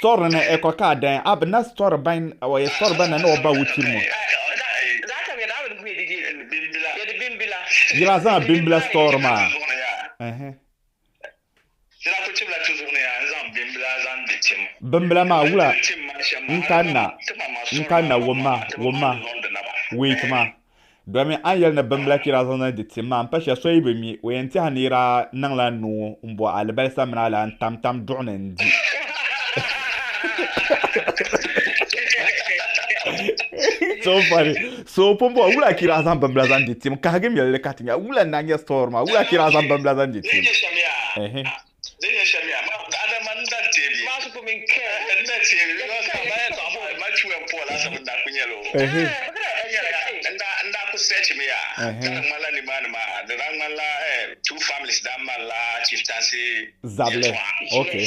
Sɔri ni e kɔ ka a dain, a bi na sɔri bain o e sɔri ba na ni o ba wuchiri mo. Yila zaŋ bimbila sɔri maa. Di daa kuli tibila ti zuɣu ni yaa n-zaŋ bimbila zaŋ di tim. Bimbila maa wula n-kanna n-kanna wumma wumma wait maa domin a ni yɛli ni bimbila kpira zaŋ na di tim maa m-pa shɛli so yi bi mi o yɛn tɛha ni yi daa niŋla nuu m-bo alibalisa mini alahi n-tam tam duɣu ni n-di. So funny. So pun bɔhi, Wula ki daa zaŋ bimbila zaŋ di tim? Kahigi miri li ka ti nya wula n-daa nyɛ story maa. Wula ki daa zaŋ bimbila zaŋ di tim? Ehe. Ehe. Zabili. Okay.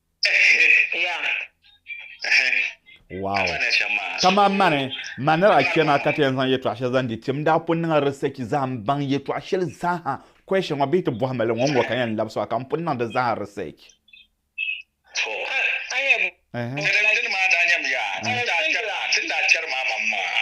Wow. Kama mani, ma ni daa chɛ naa ka ti yɛn zaŋ yɛtɔɣ shɛli zaŋ di ti, n daa pun niŋla research zaa m-baŋ yɛtɔɣ shɛli zaaha, question ŋɔ bee ti bɔhi ma li ŋɔ n-ŋɔ ka yɛn labisi o a ka m pun niŋ di zaaha research. Ɛhɛ. Dindin maa daa nyam yaa, ti ni daa chɛri maa, ti ni daa chɛri maa maŋmaŋa.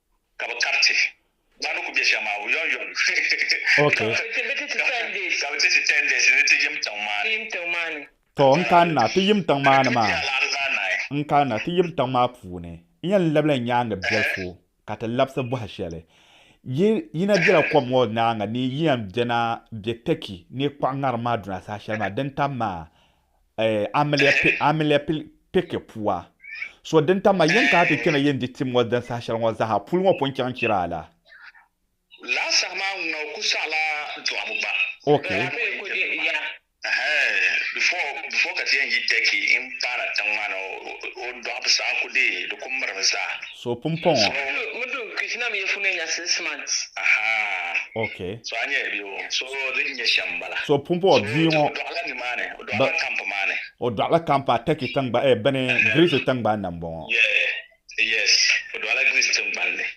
ka bɛ kariti ba ni ku be shɛm maa yɔnyɔn ka bɛ ti ti ten days ni ti yim tiŋ maa ni. Tɔ, n kanna ti yim tiŋ maa ni maa, n kanna ti yim tiŋ maa puuni, n yɛn labila n nyaaŋa biɛlifu ka ti labisi bɔhi shɛli. Yi yi na bela kom ŋɔ nyaaŋa ni yi yɛn bɛna be Tɛki ni kpuɣi ŋarim maa duna saha shɛli maa din tam maa, amiliapilipeke pua. So din tam ma yen ka ti kpena yen di tim ŋɔ din saha sheli ŋɔ zaha puli ŋɔ pun chaŋ chira la. Laa saha maa ŋuna o ku saɣi la dɔɣibu gba. Okay. Before ka ti yen yi Turkey n paana tiŋ maa ni o dɔɣibu saha ku dee di ku mirim zaa. So o pumpɔŋɔ. So o pumpɔŋɔ bia ŋɔ o dɔɣila kampu atɛki tiŋgba eh bini Girisi tiŋgbani ni m-bɔŋɔ.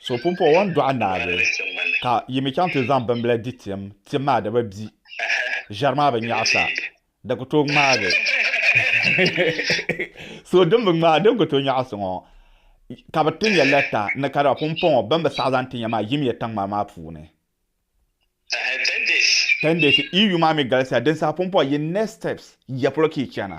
So o pumpɔŋɔ o ni dɔɣi naagi ka yi mi chaŋ ti zaŋ bimbila di tim, tim maa di bi bi. Ʒɛri maa bi nyaɣisa. Di ku tooi ŋmaagi. so din bi ŋmaai din ku tooi nyaɣi so ŋɔ, ka bi ti nya lɛta ni ka daa pumpɔŋɔ bɛn bi saɣi zaŋ ti nya maa yimiya taŋmar maa puuni. Tɛndeesi, Iyu maa mi galisiya din saha pumpɔŋɔ yi next steps ya polo ka yi chana.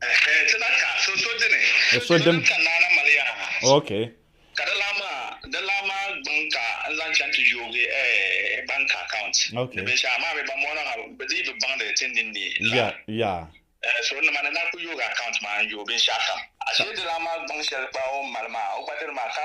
Ti na ka so so dini. O so dim. Ka naana mali ya. Ok. Ka di lan maa di lan maa gbiŋ ka n zaŋ chaŋ ti yoogi bank account. Ok. Ni binshɛɣu maa mi ban mɔɣina ha bi dii bi baŋdi ti ninni la. Ya ya. So nima ni na ku yoogi account maa n yooi binshɛɣu kam. Ashee di lan maa gbiŋ shɛli gba o ni mali maa o gba diri maa ka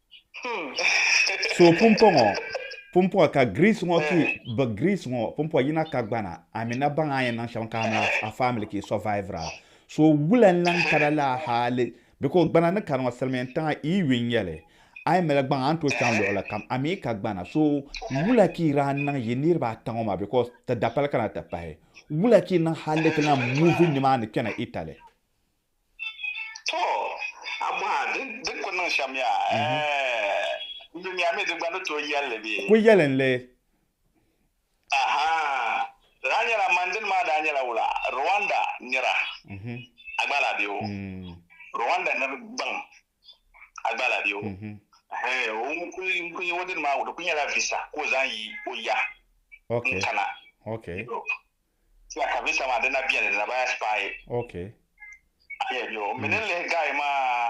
So pumpɔŋɔ pumpɔŋɔ ka Greece ŋɔ ki bɛ Greece ŋɔ pumpɔŋɔ yina ka gbana Amina baŋ a yɛn niŋ shɛm ka amina a family ki survivera so wula n lan kana la hali because gbana ni kani ŋɔ silimiin tiŋa i yu n-nyɛli a yi mali gbaŋ a ni tooi chaŋ luɣili kam a mi ka gbana so wula ki ran niŋ yi niriba ata ŋɔ maa because ti dapali kana ti pahi wula ki niŋ hali ti lan move nimaani kpɛna Italy. To, a bɔh a, di di ku niŋ shɛm ya? Ɛɛh, yumiya mi di gba ni tooi yɛl li bee? Ku yɛli n li. Aha, di daa nyɛla man dini maa daa nyɛla wula, Rwanda nira, a gba lahi be o, Rwanda nir gbaŋ. a gba la bɛ o n kuli o dini maa di kuli nyɛla visa ka o zaŋ yi o ya n kana ka visa maa dina bɛni dina baya spy ayi bɛ o mini lihi guy maa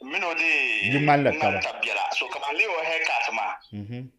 mini o dee ŋmani tabi bɛla so ka ban lihi o hair cut maa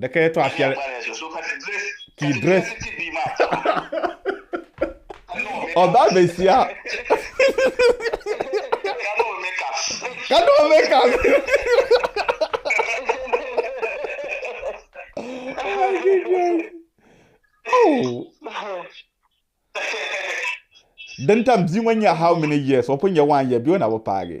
Di ka yɛtɔɣ shɛli ka yi dirɛs. O ba be sia. Ka niŋ o makeup. Oh. Din tam bia ŋɔ nyɛ how many years? O pun nyɛ one year bia o na bi paagi.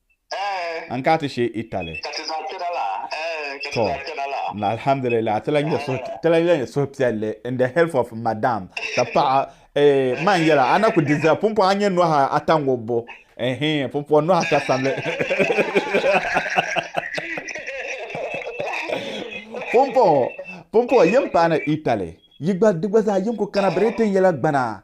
An ka ti shee Italy? Tɔ, alhamdulillah, ti lahi nyɛ suhupiɛlli in the help of madam ti paɣa. Eeh, man yɛla, a na ku di zaa pumpɔŋ a nyɛ nɔhi ata ŋubbu. Eeh, pumpɔŋ nɔhi ata samli. Pumpɔŋ, pumpɔŋ, yi ni paai na Italy, yi gba, di gba zaa yi ni ku kana Britain yɛla gbana,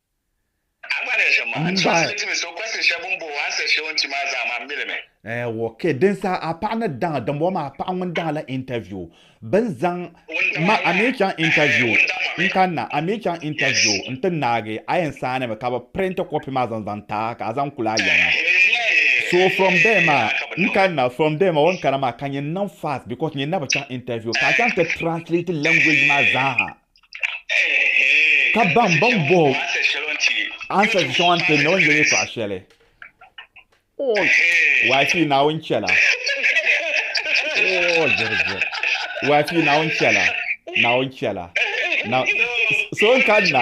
Eewɔ kɛ din sa a paɣa ni daŋa dimbɔŋɔ maa paɣa ŋun daŋa la interview bin zaŋ ma a mi chaŋ interview n kanna a mi chaŋ interview n ti naagi a yɛn saani mi ka bi print copy maa zaŋ zaŋ ti a ka a zaŋ kuli a yaŋa so from there maa n kanna from there maa o ni kana maa ka nyɛ niŋ fast because nyɛ na bi chaŋ interview ka a chaŋ ti translate language maa zaa ha ka baŋ baŋ boho ansa shɛŋa n tiri na o ni yɛli paɣa shɛli waafi naawuni chɛla waafi naawuni chɛla naawuni chɛla so n kanna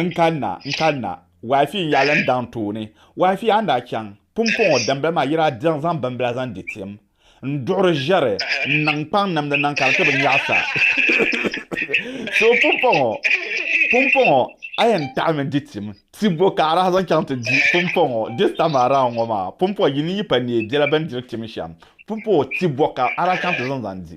n kanna n kanna waafi n yalim daŋ tooni waafi a ni daa chaŋ pumpɔŋɔ dimbila maa yira zaŋ bimbila zaŋ di tim n duɣiri ʒɛri n niŋ kpaŋ namdi niŋ ka di ti bi nyaɣisa so pumpɔŋɔ pumpɔŋɔ a yɛn taɣimi di tim ti bo ka a daa zaŋ chaŋ ti di pumpɔŋɔ this time around ŋɔ maa pumpɔŋɔ yi ni yi pa neei biɛla bɛn diri tim shɛm pumpɔŋɔ ti bo ka a daa chaŋ ti zaŋ zaŋ di